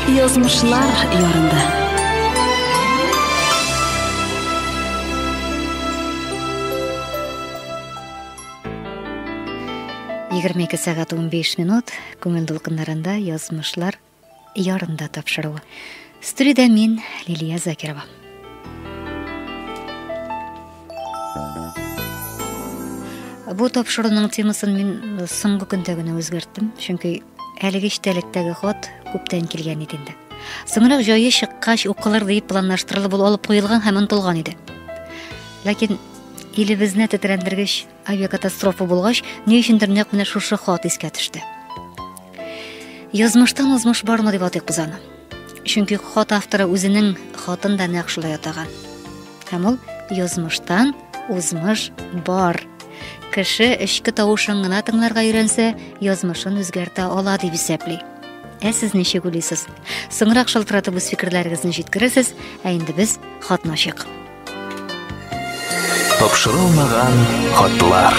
Язмышлар ярында. Егерме ике сәгать унбиш минут күңел дулкыннарында язмышлар ярында тапшыруы. Студиядә мин Лилия Закирова. Бу тапшыруның темасын мин э, соңгы көндә генә үзгәрттем, чөнки әлеге эчтәлектәге хат күптән килгән иде инде. Соңрак җае чыккач укылыр дип планлаштырылып ул алып куелган һәм онтылган иде. Ләкин илебезне тетрәндергеч Авиакатастрофа булгач, ни өчендер нәкъ менә шушы хат искә төште. Язмыштан узмыш бармы дип атыйк без аны. Чөнки хат авторы үзенең хатын да нәкъ шулай атаган. Һәм ул язмыштан узмыш бар. Кеше эчке тавышын гына тыңларга өйрәнсә, язмышын үзгәртә ала дип исәпли. Ә сез ничек уйлыйсыз? Соңрак шалтыратып үз фикерләрегезне җиткерәсез, ә инде без хатны ачык. Тапшырылмаган хатлар.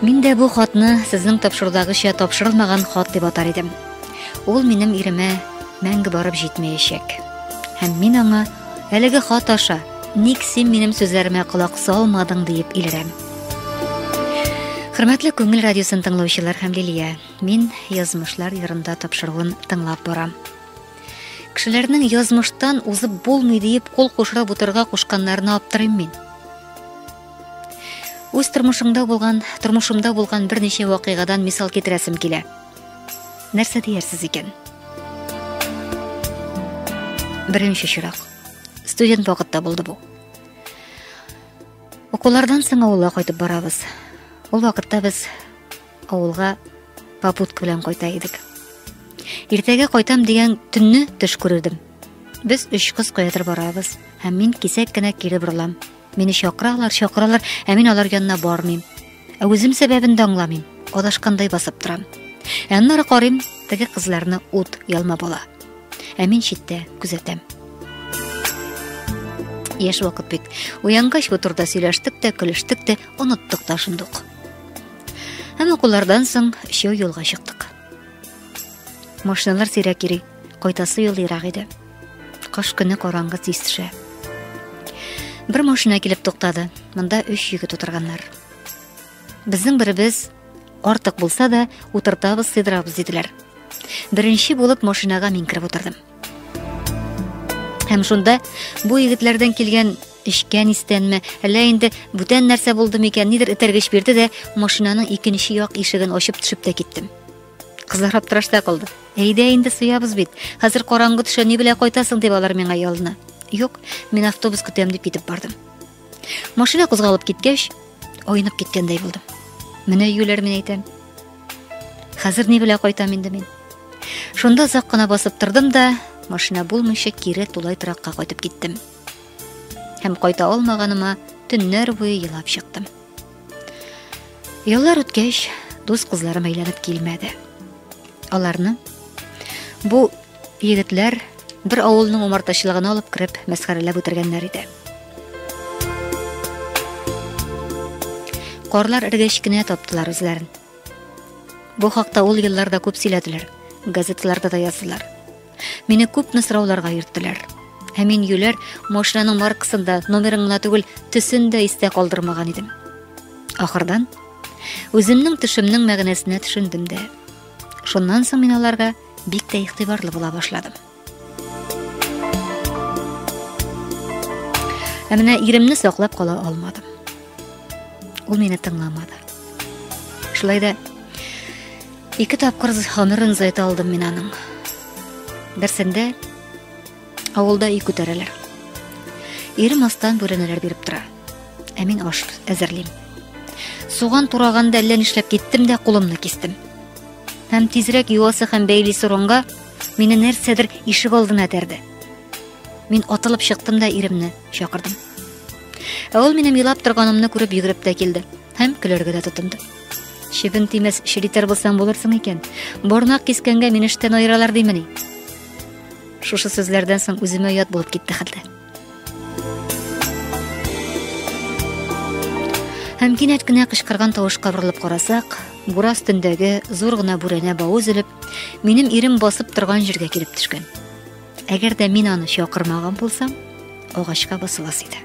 Мин дә бу хатны сезнең тапшырудагыча тапшырылмаган хат дип атар идем. Ул минем иремә мәңге барып җитмәячәк. Һәм мин аңа әлеге хат аша ник син минем сүзләремә колак салмадың диеп илерәм. Хөрмәтле күңел радиосын тыңлаучылар һәм Лилия, мин язмышлар ярында тапшыруын тыңлап барам. Кешеләрнең язмыштан узып булмый диеп кул кушырып утырырга кушканнарына аптырыйм мин. Үз тормышымда булган, тормышымда булган берничә вакыйгадан мисал китерәсем килә. Нәрсә диярсез икән? Беренче чирак. Студент вакытта булды бу. Укулардан соң авылга кайтып барабыз. Ул вакытта без Авылга попутка белән кайта идек. Иртәгә кайтам дигән төнне төш күрдем. Без өч кыз каядыр барабыз, һәм мин кисәк кенә кире борылам. Мине чакыралар, чакыралар, ә мин алар янына бармыйм. Ә үзем сәбәбен дә аңламыйм. Адашкандай басып торам. Ә аннары карыйм, теге кызларны ут ялма була. Ә мин читтә күзәтәм. Яшь вакыт бит. Уянгач бу турда сөйләштек тә, көлештек тә, оныттык та шундук. Һәм укулардан соң өчәү юлга чыктык. Машиналар сирәк йөри, кайтасы юл ерак иде. Кыш көне караңгы тиз төшә. Бер машина килеп туктады. Монда өч егет утырганнар. Безнең беребез артык булса да утыртабыз, сыйдырабыз диделәр. Беренче булып машинага мин кереп утырдым. Һәм шунда бу егетләрдән килгән Эчкән истәнме, әллә инде бүтән нәрсә булды микән, нидер этәргеч бирде дә, машинаның икенче як ишеген ачып төшеп тә киттем. Кызлар аптырашта калды. Әйдә инде суябыз бит. Хәзер караңгы төшә, ни белән кайтасың дип алар миңа ялына. Юк, мин автобус көтәм дип китеп бардым. Машина кузгалып киткәч, айнып киткәндәй булдым. Менә юләр мин әйтәм. Хәзер ни белән кайтам инде мин? Шунда озак кына басып тордым да, машина булмыйча кире тулай торакка кайтып киттем. Һәм кайта алмаганыма төннәр буе елап чыктым. Еллар үткәч, дус кызларым әйләнеп килмәде. Аларны бу егетләр бер авылның умартачылыгына алып кереп, мәсхәрәләп үтергәннәр иде. Карлар эргәч кенә таптылар үзләрен. Бу хакта ул елларда күп сөйләделәр, газеталарда да яздылар. Мине күпме сорауларга йөрттеләр. Һәм мин юләр машинаның маркасын да, номерын гына түгел, төсен дә истә калдырмаган идем. Ахырдан үземнең төшемнең мәгънәсенә төшендем дә. Шуннан соң мин аларга бик тә игътибарлы була башладым. Ә менә иремне саклап кала алмадым. Ул мине тыңламады. Шулай да Ике тапкыр гомерен зайта алдым мин аның. Берсендә авылда үй күтәрәләр. Ире мастан бүрәнәләр биреп тора. Ә мин аш әзерлим. Суган тураганда әллә нишләп киттем дә кулымны кистем. Һәм тизрәк юасы һәм бәйли соронга мине нәрсәдер ишек алдына тәрде. Мин атылып чыктым да иремне чакырдым. Ә ул минем елап торганымны күреп йөгереп тә килде һәм көләргә дә тотынды. Чебен тимәс, челитер булсаң булырсың икән. Борнак кискәнгә мин эштән аералар димени? Шушы сүзләрдән соң үземә ят булып китте хәлдә. Һәм кинәт кенә кычкырган тавышка борылып карасак, бура өстендәге зур гына бүрәнә бавы өзелеп, минем ирем басып торган җиргә килеп төшкән. Әгәр дә мин аны чакырмаган булсам, агачка басыласы иде.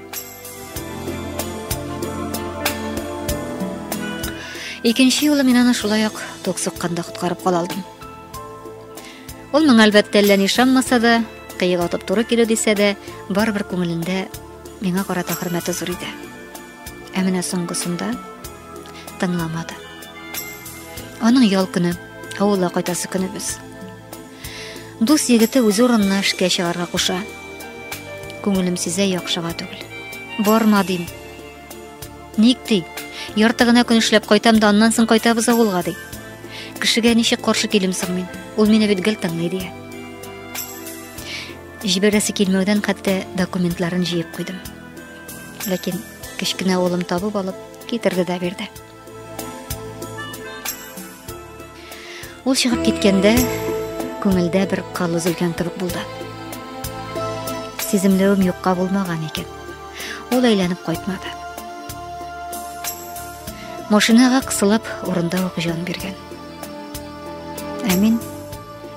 Икенче юлы мин аны шулай ук тук сукканда коткарып кала алдым. Ул моңа әлбәттә әллә ни ышанмаса да, кыек атып туры килү дисә дә, барыбер күңелендә миңа карата хөрмәте зур иде. Ә менә соңгысында тыңламады. Аның ял көне, авылга кайтасы көне без. Дус егете үз урынына эшкә чыгарга куша. Күңелем сизә яхшыга түгел. Барма дим. Ник ди? Ярты гына көн эшләп кайтам да аннан соң кайтабыз авылга ди. Кешегә ничек каршы килем соң мин? Ул мине бит гел тыңлый ди. Җибәрәсе килмәүдән хәтта документларын җыеп куйдым. Ләкин кечкенә улым табып алып китерде дә бирде. Ул чыгып киткәндә күңелдә бер кал өзелгән кебек булды. Сиземләвем юкка булмаган икән. Ул әйләнеп кайтмады. Машинага кысылып, урында ук җан биргән. Ә мин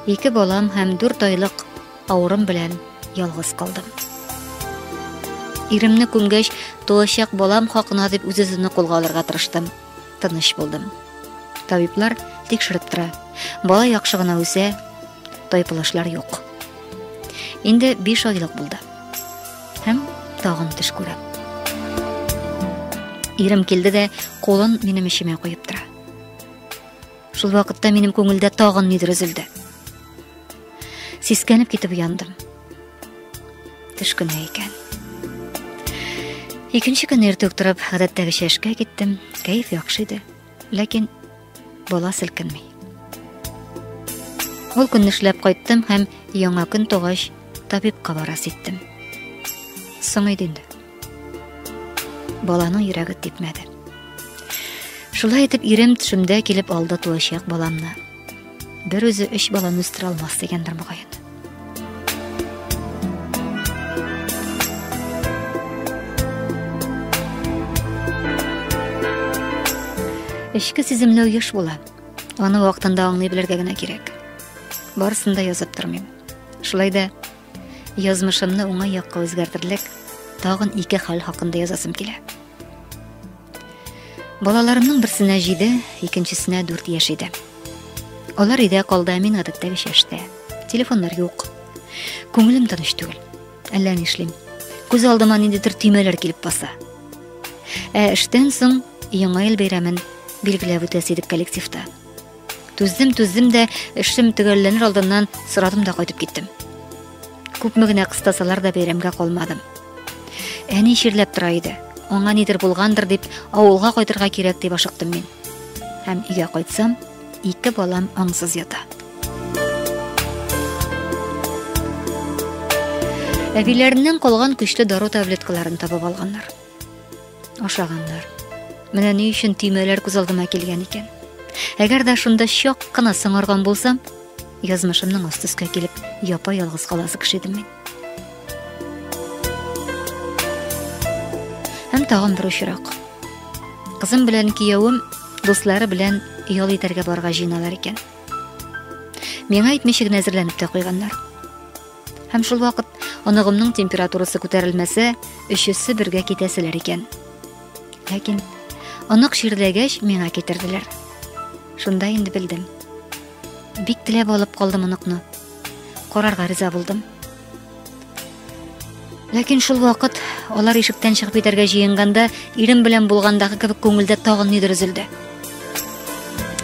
ике балам һәм дүрт айлык Авырым белән ялгыз калдым. Иремне күмгәч, туачак балам хакына дип үз-үземне кулга алырга тырыштым. Тыныч булдым. Табиблар тикшереп тора. Бала яхшы гына үсә, тайпылышлар юк. Инде 5 айлык булды. Һәм тагын төш күрә. Ирем килде дә, кулын минем эчемә куеп тора. Шул вакытта минем күңелдә тагын нидер өзелде. Сискәнеп китеп уяндым. Төш көне икән. Икенче көнне иртүк торып, гадәттәгечә эшкә киттем. Кәеф яхшы иде, ләкин бала селкенми. Ул көнне эшләп кайттым һәм яңа көн тугач табибка барас иттем. Соң иде инде. Баланың йөрәге типмәде. Шулай итеп ирем төшемдә килеп алды туачак баламны. Бер үзе өч баланы үстерә алмас дигәндер мөгаен. Эшке сиземле еш була. Аны вакытында аңлый белергә генә кирәк. Барысын да язып тормыйм. Шулай да Язмышымны уңай якка үзгәртерлек тагын ике хәл хакында язасым килә. Балаларымның берсенә 7, икенчесенә 4 яшь иде. Алар өйдә калды, ә мин гадәттәгечә эштә. Телефоннар юк. Күңелем тыныч түгел. Әллә нишлим. Күз алдыма ниндидер төймәләр килеп баса. Ә эштән соң Яңа ел бәйрәмен билгеләп үтәсе идек коллективта. Түздем, түздем дә, эшем төгәлләнер алдыннан сорадым да кайтып киттем. Күпме генә кыстасалар да бәйрәмгә калмадым. Әни чирләп тора иде. Аңа нидер булгандыр дип, авылга кайтырга кирәк дип ашыктым мин. Һәм өйгә кайтсам, ике балам аңсыз ята. Әбиләреннән калган көчле дару таблеткаларын табып алганнар. Ашаганнар. Менә ни өчен төймәләр күз алдыма килгән икән. Әгәр дә шунда чак кына сыңарган булсам, язмышымның аст өскә килеп, япа ялгыз каласы кеше идем мин. Һәм тагын бер очрак. Кызым белән киявем дуслары белән ял итәргә барга җыйналар икән. Миңа әйтмичә генә әзерләнеп тә куйганнар. Һәм шул вакыт оныгымның температурасы күтәрелмәсә, өчесе бергә китәселәр икән. Ләкин онык чирләгәч миңа китерделәр. Шунда инде белдем. Бик теләп алып калдым оныкны. Карарга риза булдым. Ләкин шул вакыт алар ишектән чыгып китәргә җыенганда, ирем белән булгандагы кебек күңелдә тагын нидер өзелде.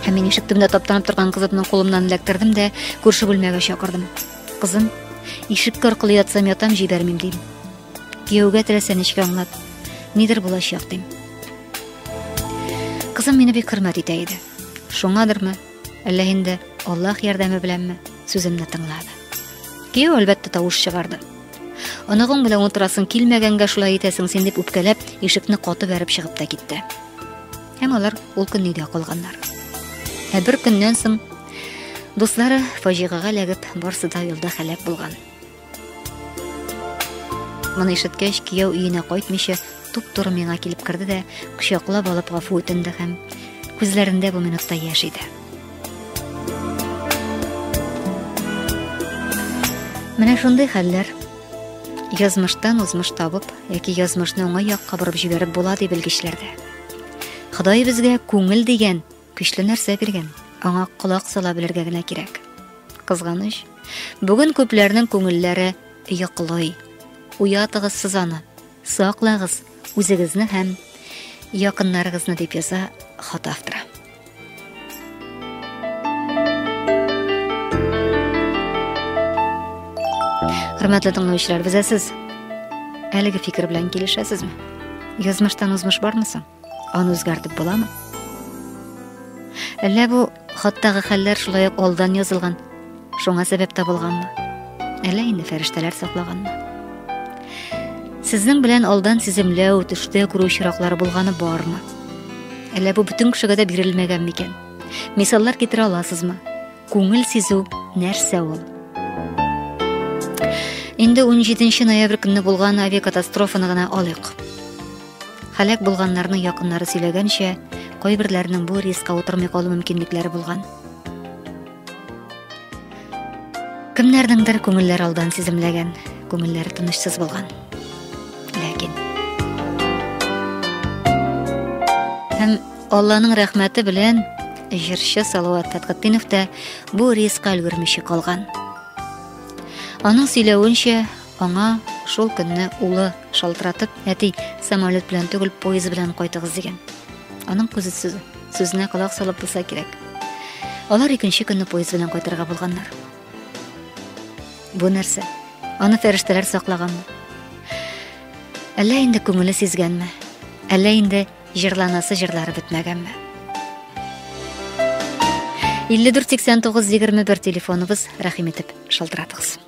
Һәм мин ишек төбендә таптанып торган кызымның кулымнан эләктердем дә күрше бүлмәгә чакырдым. Кызым, ишеккә аркылы ятсам ятам җибәрмим, дим. Кияүгә теләсә нечкә аңлат. Нидер булачак, дим. Кызым мине бик хөрмәт итә иде. Шуңадырмы, әллә инде Аллаһ ярдәме беләнме, сүземне тыңлады. Кияү әлбәттә тавыш чыгарды. Оныгың белән утырасың килмәгәнгә шулай итәсең син дип үпкәләп, ишекне каты бәреп чыгып та китте. Һәм алар ул көнне өйдә калганнар. Ә бер көннән соң дуслары фаҗигагә ләгеп барсы да юлда хәләк булган. Моны ишеткәч, кияү өенә кайтмыйча, туп-туры миңа килеп керде дә, кочаклап алып гафу үтенде һәм күзләрендә бу минутта яшь иде. Менә шундый хәлләр язмыштан узмыш табып яки язмышны уңай якка борып җибәреп була ди белгечләрдә. Ходай безгә күңел дигән көчле нәрсә биргән. Аңа колак сала белергә генә кирәк. Кызганыч, бүген күпләрнең күңелләре йоклый. Уятыгыз сез аны. Саклагыз үзегезне һәм якыннарыгызны дип яза хат авторы. Хөрмәтле тыңлаучылар, безә сез әлеге фикер белән килешәсезме? Язмыштан узмыш бармы соң? Аны үзгәртеп буламы? Әллә бу хаттагы хәлләр шулай ук алдан язылган Шуңа сәбәп табылганмы? Әллә инде фәрештәләр саклаганмы? Сезнең белән алдан сиземләү, төштә күрү очраклары булганы бармы? Әллә бу бөтен кешегә дә бирелмәгән микән? Мисаллар китерә аласызмы? Күңел сизү нәрсә ул? Инде 17 ноябрь көнне булган авиакатастрофаны гына алыйк. Халәк булганнарның якыннары сөйләгәнчә, кайберләрнең бу рискка утырмый калу мөмкинлекләре булган. Кемнәрнеңдер күңелләр алдан сиземләгән, күңелләре тынычсыз булган. Ләкин һәм Алланың рәхмәте белән җырчы Салават Фәтхетдинов та бу рискка өлгермичә калган. Аның сөйләвенчә, аңа шул көнне улы шалтыратып, әти, самолет белән түгел, поезд белән кайтыгыз дигән. Аның күзе сүзе. Сүзенә колак салып булса кирәк. Алар икенче көнне поезд белән кайтырга булганнар. Бу нәрсә? Аны фәрештәләр саклаганмы? Әллә инде күңеле сизгәнме? Әллә инде җырланасы җырлары бетмәгәнме? 54 89 21 телефоныбыз рәхим итеп шалтыратыгыз.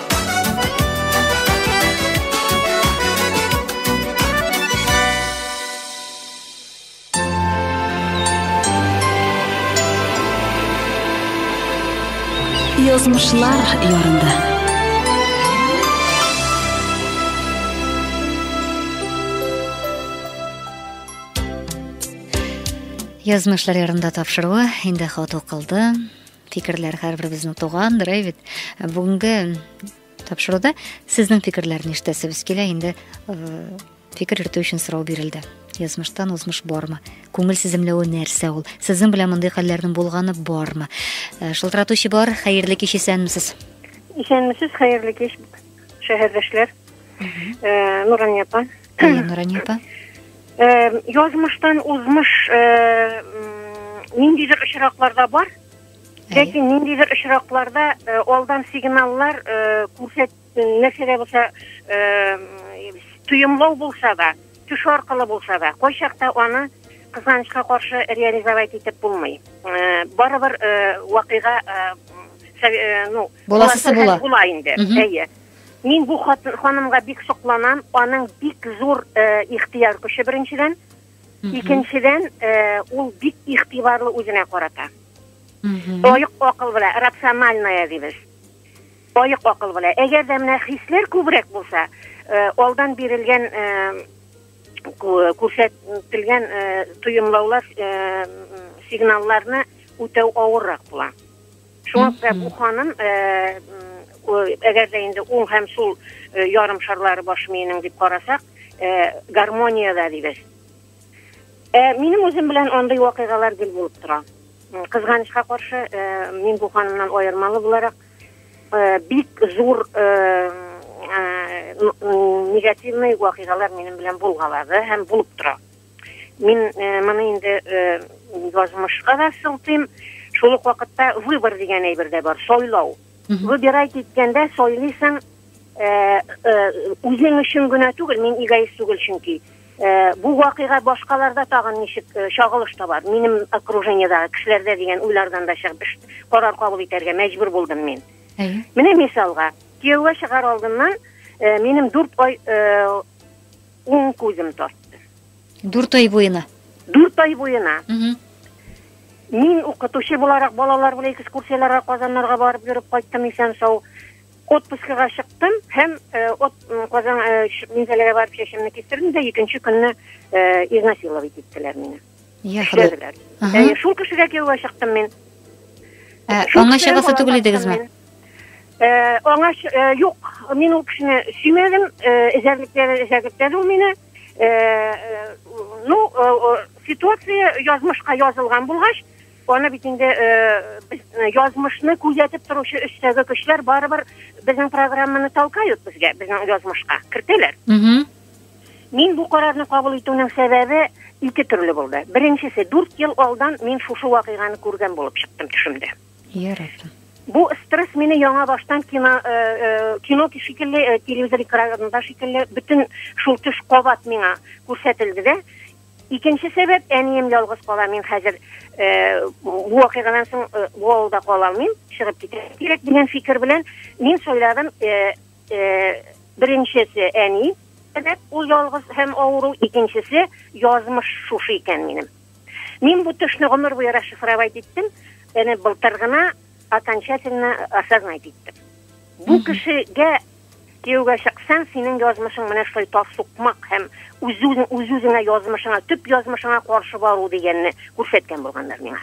Язмышлар ярында. Язмышлар ярында тапшыруы инде хат укылды. Фикерләр һәрберебезнең туган берәй бит. Ә бүгенге тапшыруда сезнең фикерләрне ишетәсебез килә. Инде фикер йөртү өчен сорау бирелде. Язмыштан узмыш бармы? Күңел сиземләве нәрсә ул? Сезнең белән мондый хәлләрнең булганы бармы? Шылтыратучы бар, хәерле кич исәнмесез. Исәнмесез, хәерле кич, шәһәрдәшләр. Нурания апа. Уен, Рания апа. Э, язмыштан узмыш э, ниндидер очракларда бар. Ләкин ниндидер очракларда э, алдан сигналлар күрсәт нәрсә дә булса тоемлау булса да, төш аркылы булса да, кайчакта аны кызганычка каршы реализовать итеп булмый. Барыбер вакыйга ну, буласы була. Була инде. Әйе. Мин бу ханымга бик сокланам, аның бик зур ихтыяр көче беренчедән, икенчедән ул бик игътибарлы үзенә карата. Оек акыл белән, рациональная дибез. Оек акыл белән. Әгәр дә менә хисләр күбрәк булса, алдан бирелгән күрсәтелгән тоемлаулар, сигналларны үтәү авыррак була. Шуңа күрә бу ханым, әгәр дә инде уң һәм сул ярым шарлары баш миенең дип карасак, гармониядә дибез. Ә минем үзем белән андый вакыйгалар гел булып тора. Кызганычка каршы, мин бу ханымнан аермалы буларак, бик зур негативный вакыйгалар минем белән булгалады һәм булып тора. Мин э, моны инде э, язмышка да сылтыйм. Шул ук вакытта выбор дигән әйбер дә бар, сайлау. Выбирать иткәндә сайлыйсың э, э, үзең өчен генә түгел, мин эгоист түгел чөнки. Э, бу вакыйга башкаларда тагын ничек э, чагылыш табар? Минем окружениедагы кешеләрдә дигән уйлардан да чыгып эш карар кабул итәргә мәҗбүр булдым мин. Әйе. Менә мисалга, кияүгә чыгар алдыннан э, минем 4 ай э, Уң күзем тартты. Дүрт ай буена. Дүрт ай буена. Мин укытучы буларак балалар белән экскурсияләргә Казаннарга барып йөреп кайттым исән сау. Отпускага чыктым һәм э, от Казан э, Минзәләгә барып чәчемне кистердем дә икенче көнне э, изнасиловать иттеләр мине. Я Худай. Эшләделәр. Ага. Әйе, шул кешегә кияүгә чыктым мин. Ә, Шул аңа кешедән чыгасы бала түгел таптым идегезме? мин. Э, Аңа ч- э, юк, мин ул кешене сөймәдем, э, эзәрлекләде, эзәрлекләде ул мине. Э, э, Ну, э, э, ситуация язмышка язылган булгач, аны бит инде э, без, э, язмышны күзәтеп торучы өстәге көчләр барыбер безнең программаны толкают безгә, безнең язмышка кертәләр. Мгм. Мин бу карарны кабул итүнең сәбәбе ике төрле булды. Беренчесе, дүрт ел алдан мин шушы вакыйганы күргән булып чыктым төшемдә. Яратам. Бу стресс мине яңа баштан кино, э, э, кино шикелле, э, телевизор экранында шикелле, бөтен шул төш кабат миңа күрсәтелде дә. Икенче сәбәп, әнием ялгыз кала, мин хәзер э, бу вакыйгадан соң э, бу авылда кала алмыйм, чыгып китәргә кирәк дигән фикер белән мин сайладым э, Беренчесе, әни сәбәп, ул ялгыз һәм авыру, икенчесе, язмыш шушы икән минем. Мин бу төшне гомер буе расшифровать иттем, әнә былтыр гына окончательно осознать иттем. Бу кешегә кияүгә чыксаң, синең язмышың менә шулай тас сукмак һәм үз-үзең үз-үзеңә язмышыңа, төп язмышыңа каршы бару дигәнне күрсәткән булганнар миңа.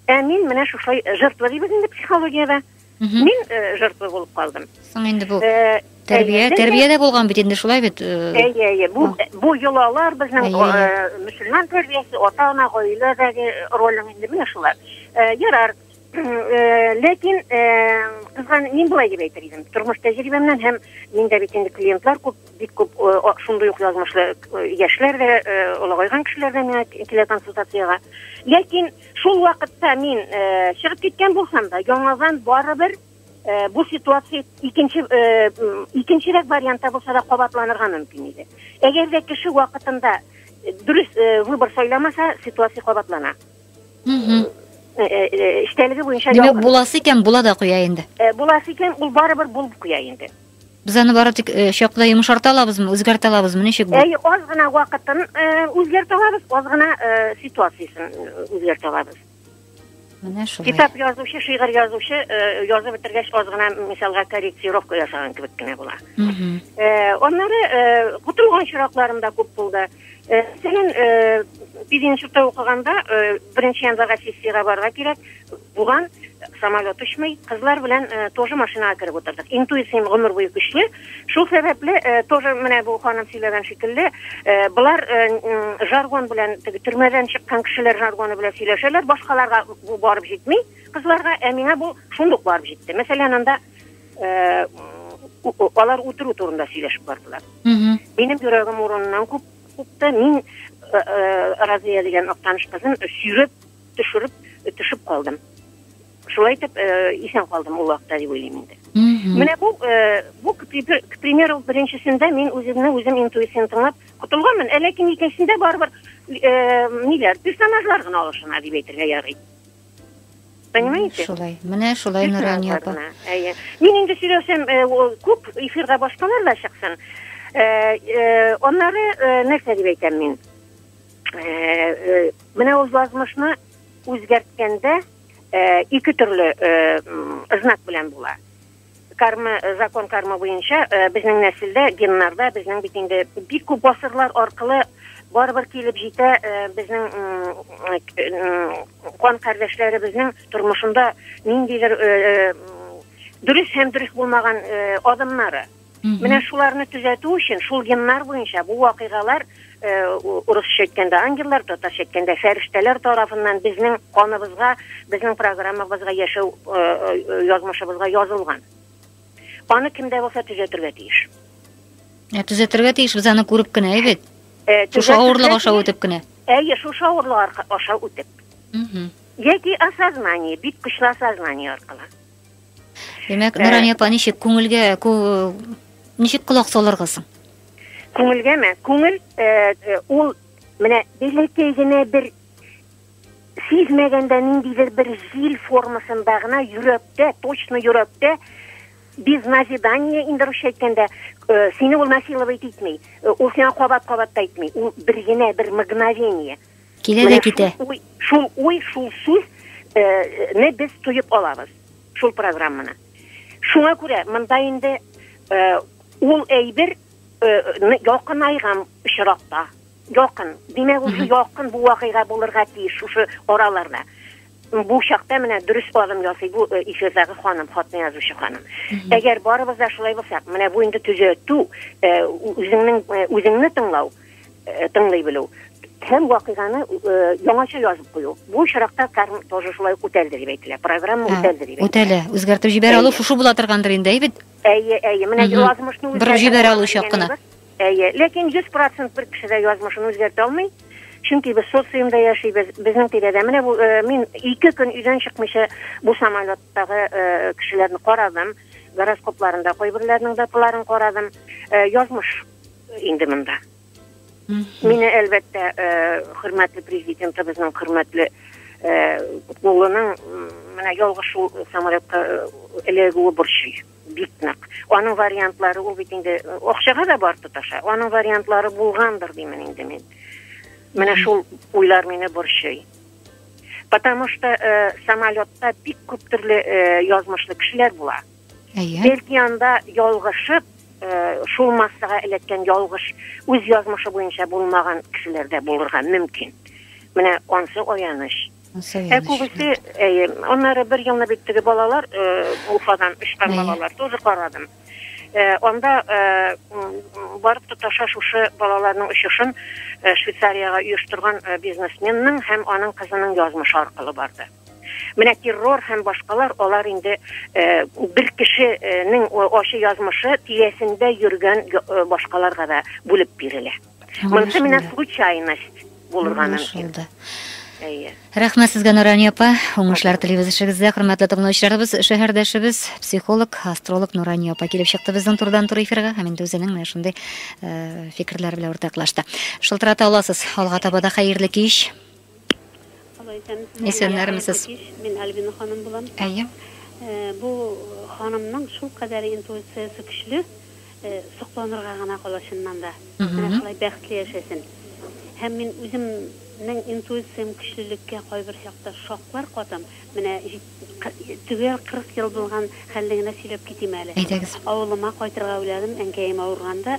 Ә мин менә шушылай жертва дибез инде психологиядә. Мин жертва булып калдым. Соң инде бу тәрбия, тәрбия дә булган бит инде шулай бит. Әйе, әйе. Бу бу йолалар безнең мөселман тәрбиясе, ата-ана, гаиләдәге ролең инде менә шулар. Ярар. Ләкин кызган мин болай дип әйтер идем. Тормыш тәҗрибәмнән һәм миндә бит инде клиентлар күп бик күп шундый ук язмышлы яшьләр дә олыгайган кешеләр дә миңа килә консультациягә ләкин шул вакытта мин чыгып киткән булсам да яңадан барыбер бу ситуация икенче икенчерәк вариантта булса да кабатланырга мөмкин иде әгәр дә кеше вакытында дөрес выбор сайламаса ситуация кабатлана эчтәлеге буенча димәк буласы икән була да куя инде буласы икән ул барыбер булып куя инде Без аны бары тик э, чакта йомшарта алабызмы, үзгәртә алабызмы, ничек бу? Әй, аз гына вакытын э, үзгәртә алабыз, аз гына э, ситуациясен э, үзгәртә алабыз. Менә шулай. Китап язучы, шигырь язучы э, язып бетергәч аз гына мисалга корректировка ясаган кебек кенә була. Мгм. Э, аннары э, котылган чиракларым да күп булды. Э, мәсәлән э, без институтта укыганда э, беренче январьга сессиягә барырга кирәк булган самолет очмый кызлар белән тоже машинага кереп утырдык интуициям гомер буе көчле шул сәбәпле тоже менә бу ханым сөйләгән шикелле болар жаргон белән теге төрмәдән чыккан кешеләр жаргоны белән сөйләшәләр башкаларга бу барып җитми кызларга ә миңа бу шундук барып җитте мәсәлән анда алар үтерү турында сөйләшеп бардылар минем йөрәгем урыныннан күп купты мин разия дигән актаныш кызын сөйрәп төшереп төшеп калдым шулай итеп исән калдым ул вакытта дип уйлыйм инде менә бу бу к примеру беренчесендә мин үземне үзем интуицияны тыңлап котылганмын ә ләкин икенчесендә барыбер ниләр персонажлар гына алышына дип әйтергә ярый Понимаете? Шулай. Менә шулай Нурания апа. Әйе. Мин инде сөйләшәм, э, күп эфирда башкалар да чыксын. Э, э, аннары нәрсә дип әйтәм мин? Менә ул язмышны үзгәрткәндә ике төрле знак белән була. Карма, закон карма буенча, э, безнең нәселдә, геннарда, безнең бит инде бик күп гасырлар аркылы барыбер килеп җитә э, безнең кан кардәшләребезнең тормышында ниндидер э, дөрес һәм дөрес булмаган адымнары. Менә шуларны төзәтү өчен шул геннар буенча бу вакыйгалар урысча әйткәндә ангеллар, татарча әйткәндә фәрештәләр тарафыннан безнең каныбызга, безнең программабызга, яшәү э, э, язмышыбызга язылган. Аны кем дә булса төзәтергә тиеш. Ә төзәтергә тиеш без аны күреп кенә, әйбит. Э, шушы авырлык аша үтеп кенә. Әйе, шушы авырлык аша үтеп. Яки осознание, бит көчле осознание аркылы. Димәк, Нурания апа, ничек күңелгә ничек колак салырга соң? Күңелгәме? Күңел ул менә бәләкәй генә бер сизмәгәндә ниндидер бер җил формасында гына йөрәктә, точно йөрәктә без назидание инде русча әйткәндә сине ул насиловать итми ул сиңа кабат кабат та әйтми ул бер генә бер мгновение Килә дә китә. Шул уй, шул сүз не без туеп алабыз шул программаны. Шуңа күрә монда инде ул әйбер якын айгам очракта. Якын. Димәк, ул якын бу вакыйга булырга тиеш шушы араларда. Бу чакта менә дөрес адым ясый бу эфирдагы ханым, хатны язучы ханым. Әгәр барыбыз да шулай булсак, менә бу инде төзәтү, үзеңнең үзеңне тыңлау, э, тыңлый белү һәм вакыйганы э, яңача язып кую. Бу очракта карм тоже шулай үтәлде дип әйтелә. Программа үтәлде дип. Үтәлә. Үзгәртеп җибәрә алу шушы була торгандыр инде, әйбит. Әйе, әйе. Менә язмышны үзгәртә. Бер җибәрә алу чак кына. Әйе, ләкин 100% бер кеше дә язмышын үзгәртә алмый. Чөнки без социумда яшибез, безнең тирәдә. Менә бу э, мин ике көн өйдән чыкмыйча бу самолеттагы э, кешеләрне карадым гороскопларында кайберләрнең даталарын карадым э, язмыш инде монда. Мине әлбәттә э, хөрмәтле президентыбызның хөрмәтле э, улының менә ялгыш шул самолетка э, эләгүе борчый бик нык. Аның вариантлары ул бит инде акчага да бар тоташа. Аның вариантлары булгандыр димен инде мин. Менә шул уйлар мине борчый. Потому что э, самолетта бик күп төрле э, язмышлы кешеләр була. Әйе. Бәлки анда ялгышып, э, шул массага эләккән ялгыш үз язмышы буенча булмаган кешеләр дә булырга мөмкин. Менә ансы аяныч. Ә күбесе, әйе, аннары бер елны бит теге балалар э, Уфадан очкан балалар тоже карадым. Э, анда э, барып тоташа шушы балаларның очышын Швейцариягә оештырган бизнесменның һәм аның кызының язмышы аркылы барды. Менә террор һәм башкалар алар инде бер кешенең ачы язмышы тирәсендә йөргән башкаларга да бүлеп бирелә. Монысы менә случайность булырга мөмкин. Әйе. Рәхмәт сезгә, Нурания апа. Уңышлар телибез эшегездә. Хөрмәтле тыңлаучыларыбыз, шәһәрдәшебез, психолог, астролог Нурания апа килеп чыкты безнең турдан тур эфирга һәм инде үзенең менә шундый э, фикерләр белән уртаклашты. Шылтырата аласыз. Алга таба да хәерле кич. Исәннәрмесез. Мин Альбина ханым булам. Әйе. Бу ханымның шул кадәр интуициясе көчле, сокланырга гына кала чыннан да. Менә шулай бәхетле яшәсен. Һәм мин үземнең интуициям көчлелеккә кайбер чакта шаклар катам. Менә төгәл 40 ел булган хәлне генә сөйләп китим әле. Әйдәгез. Авылыма кайтырга уйладым, әнкәем авырганда.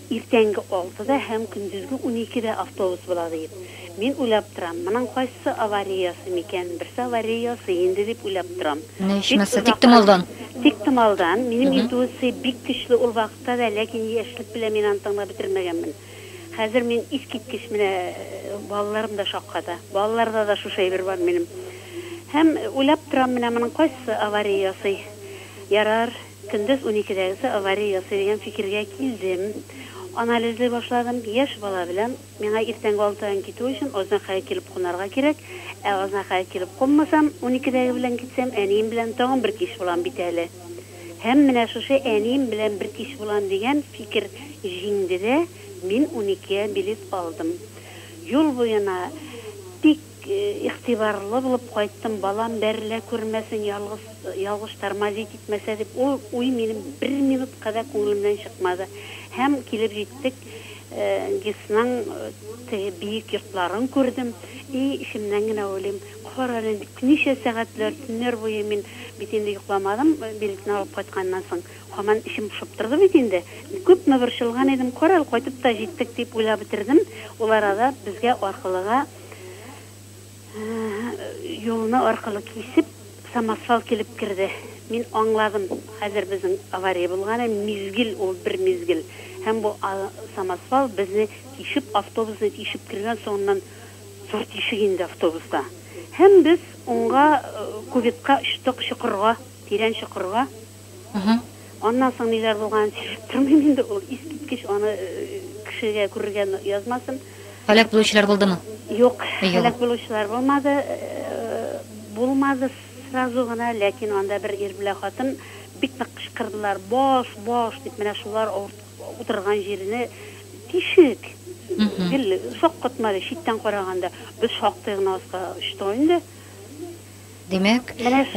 Иртәнге алтыда һәм көндезге уникедә автобус була диеп. Мин уйлап торам, моның кайсы авария ясый микән, берсе авария ясый инде дип уйлап торам. Менә ичмаса, тиктомалдан. Тиктомалдан. Минем интуиция бик көчле ул вакытта да, ләкин яшьлек белән мин аны тыңлап бетермәгәнмен. Хәзер мин искиткеч менә балаларым да шакката. Балаларда да шушы әйбер бар минем. Һәм уйлап торам, менә моның кайсы авария ясый. Ярар. Көндез уникедәгесе авария ясый дигән фикергә килдем. Анализлый башладым. Яшь бала белән миңа иртәнге алтыдан китү өчен Азнакайга килеп кунарга кирәк. Ә Азнакайга килеп кунмасам, уникедәге белән китсәм, әнием белән тагын бер кич булам бит әле. Һәм менә шушы әнием белән бер кич булам дигән фикер җиңде дә, мин уникегә билет алдым. Юл буена бик Игътибарлы булып кайттым, балам бәрелә күрмәсен, ялгыз, ялгыш тормозить итмәсә дип. Ул уй минем бер минутка да күңелемнән чыкмады. Һәм килеп җиттек. ГИСның теге биек йортларын күрдем. И, эчемнән генә уйлыйм, карале, ничә сәгатьләр, төннәр буе мин бит инде йокламадым, билетны алып кайтканнан соң. Һаман эчем пошып торды бит инде. Күпме борчылган идем, карале, кайтып та җиттек, дип уйлап бетердем. Ул арада безгә аркылыга. юлны аркылы кисеп, самосвал килеп керде. Мин аңладым, хәзер безнең авария булганы, мизгел ул, бер мизгел. Һәм бу самосвал безне тишеп, автобусны тишеп кергән, соңыннан зур тишек инде автобуста. Һәм без уңга, кубитка очтык, чокырга, тирән чокырга. Аннан соң ниләр булганын сөйләп тормыйм инде, ул искиткеч, аны кешегә күрергә язмасын. Һәлак булучылар булдымы? Юк, һәлак булучылар булмады. Булмады сразу гына, ләкин анда бер ир белән хатын бик нык кычкырдылар, баш, баш дип, менә шулар утырган җирне тишек, гел шаккатмады, читтән караганда. Без шактый гына аска очтык инде. Димәк,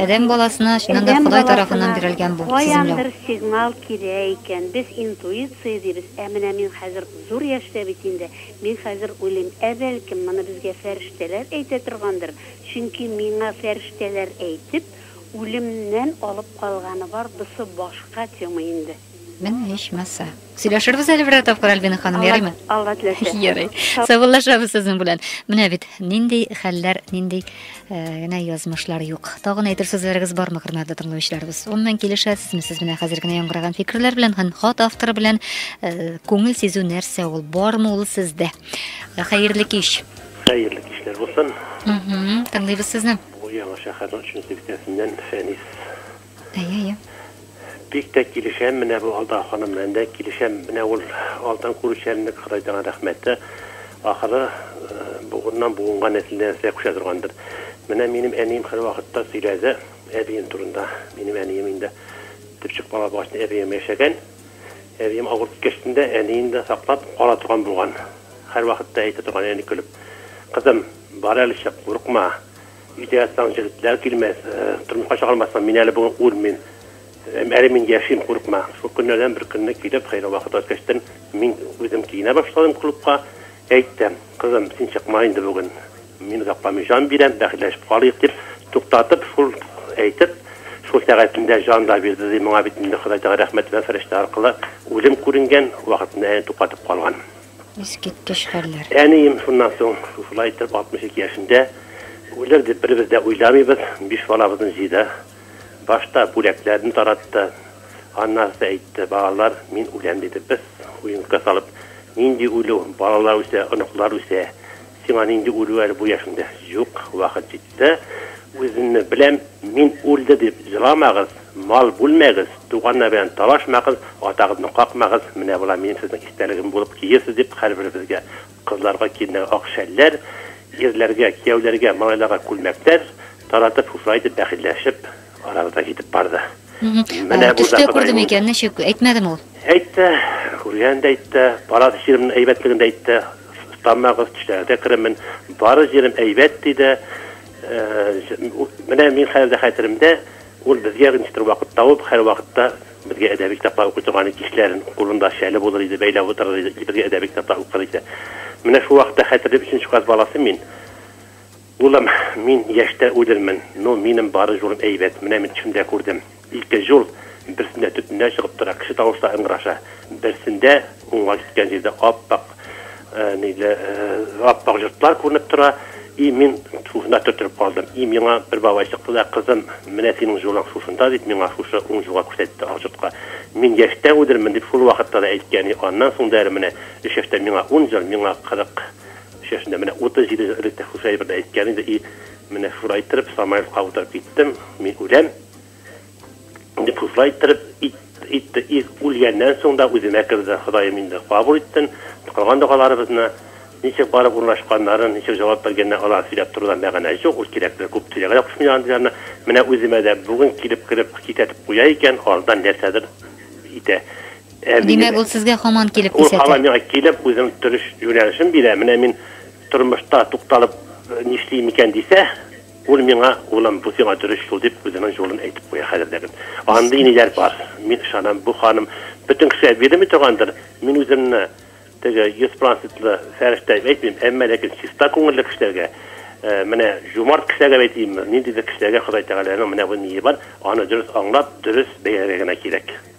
адәм баласына чыннан да Ходай тарафыннан бирелгән бу сеземләү. Каяндыр сигнал килә икән. Без интуиция дибез. Ә менә мин хәзер зур яшьтә бит инде. Мин хәзер уйлыйм, ә бәлкем, моны безгә фәрештәләр әйтә торгандыр? Чөнки миңа фәрештәләр әйтеп, үлемнән алып калганы бар, бусы башка тема инде. Менә ичмаса. Сөйләшербез әле берәр тапкыр Альбина ханым, ярыймы? Алла теләсә. Ярый. Саубуллашабыз сезнең белән. Менә бит нинди хәлләр, нинди э, генә язмышлар юк. Тагын әйтер сүзләрегез бармы, хөрмәтле тыңлаучыларыбыз? Оннан килешәсезме сез менә хәзер генә яңгыраган фикерләр белән һәм хат авторы белән э, күңел сизү нәрсә ул? Бармы ул сездә? Э, хәерле кич. Хәерле кичләр булсын. Тыңлыйбыз сезне. Бу яңа шәһәрнең 3 нче бистәсеннән Фәнис Әйе-әйе. Бик тә килешәм менә бу Алда ханым белән дә килешәм менә ул алдан күрүчәнлек Ходай таңа рәхмәт ахыры бугыннан буынга нәселдән нәселгә күчә торгандыр менә минем әнием хәрвакытта сөйләде әбием турында минем әнием инде төпчек бала булгач әбием яшәгән әбием авырып киткәч тендә әниен дә саклап кала торган булган хәрвакытта әйтә торган әни көлеп кызым бар әле чык курыкма Өйдә ятсаң, җегетләр килмәс, тормышка чыгармассың, мин әле бүген үлмим. Әле мин яшим, курыкма. Шул көннәрдән бер көнне килеп, хәерле вакыт үткәчтен, мин үзем киенә башладым клубка. Әйттем, кызым, син чыкма инде бүген. Мин Гаппами җан бирәм, бәхетләшеп калыйк, дип туктатып, шул әйтеп, шул сәгатендә җан да бирде, ди, моңа бит инде Ходай Тәгалә рәхмәт белән фәрештә аркылы үлем күренгән, вакытында әни туктатып калган. Искиткеч хәлләр. Әнием шуннан соң шушылай итеп 62 яшендә үлер дип беребез дә уйламыйбыз, биш балабызны җыйды. Башта бүләкләрне таратты, аннары да әйтте, балалар, мин үләм, диде, без уенкыга салып, нинди үлү, балалар үсә, оныклар үсә, сиңа нинди үлү әле бу яшеңдә, юк, вакыт җиткән. Дә, үземне беләм, мин үлде дип еламагыз, мал бүлмәгез, туганнар белән талашмагыз, атагызны какмагыз, менә болар минем сезнең истәлегем булып киерсез дип һәрберебезгә, кызларга киленнәргә ак шәлләр, ирләргә, кияүләргә, малайларга күлмәкләр таратып шушылай итеп бәхилләшеп, Арабыз да китеп барды. Менә бу да күрдем икән, ничек әйтмәдем ул? Әйтте, күргән дә әйтте, палат җиремнең әйбәтлеген дә әйтте. Тамагыз, төшләргә керемен, бары җирем әйбәт диде. Менә мин хәзер дә хәтеремдә, ул безгә ничектер вакыт табып, һәр вакытта безгә әдәби китаплар укый торган иде, кичләрен кулында шәле булыр иде, бәйләп утырыр иде, безгә әдәби китаплар укыр иде. Менә шул вакытта хәтерлим, өченче класс баласы мин. Улым, мин яшьтә үлермен, ну, минем бары җурым әйбәт, менә мин төшемдә күрдем, ике җур, берсендә төтеннәр чыгып тора, кеше тавышлары ыңгыраша, берсендә, уңга киткән җирдә ап-ак, ниле, ап-ак йортлар күренеп тора, и мин шушында төртелеп калдым, и миңа бер бабай чыкты да, кызым, менә синең җураң шушында, дип, миңа шушы уң җурга күрсәтте, ак йортка, мин яшьтә үлермен, дип шул вакытта да әйткән, и аннан соң да әле менә өч яшьтә миңа ун ел, миңа кырык, Чәченә менә 37 ел элек тә шушы әйберне әйткән иде, и, менә шуны әйттереп, Самаевка утырып киттем, мин үләм, дип шушылай иттереп итте, и, үлгәннән соң да үземә керде, Ходаем инде кабул иттен, кылган догаларыбызны, ничек барып урнашканнарын, ничек җавап биргәннәр, алар сөйләп торуда мәгънә юк, ул кирәкле, күп сөйләргә дә кушмыйлар андый ларны, менә үземә дә бүген килеп кереп китәтеп куя икән, алдан нәрсәдер итә. Димәк, ул сезгә хаман килеп кисәтә. Ул хаман миңа килеп, үзенең торыш юнәлешен бирә. Менә мин тормышта тукталып нишлим икән дисә, ул миңа, улым, бу сиңа дөрес юл дип, үзенең юлын әйтеп куя хәзерләрен. Андый иниләр бар. Мин ышанам, бу ханым бөтен кешегә бирелми торгандыр. Мин үземне теге йөз процентлы фәрештә дип әйтмим, әмма ләкин чиста күңелле кешеләргә, менә җумарт кешеләргә дип әйтим, ниндидер кешеләргә Ходай Тәгаләнең менә бу ние бар, аны дөрес аңлап, дөрес бәяләргә генә кирәк.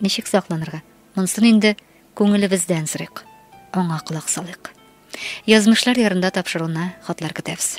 Ничек сакланырга? Монсын инде күңелебездән сорыйк, аңа колак салыйк. Язмышлар ярында тапшыруына хатлар көтәбез.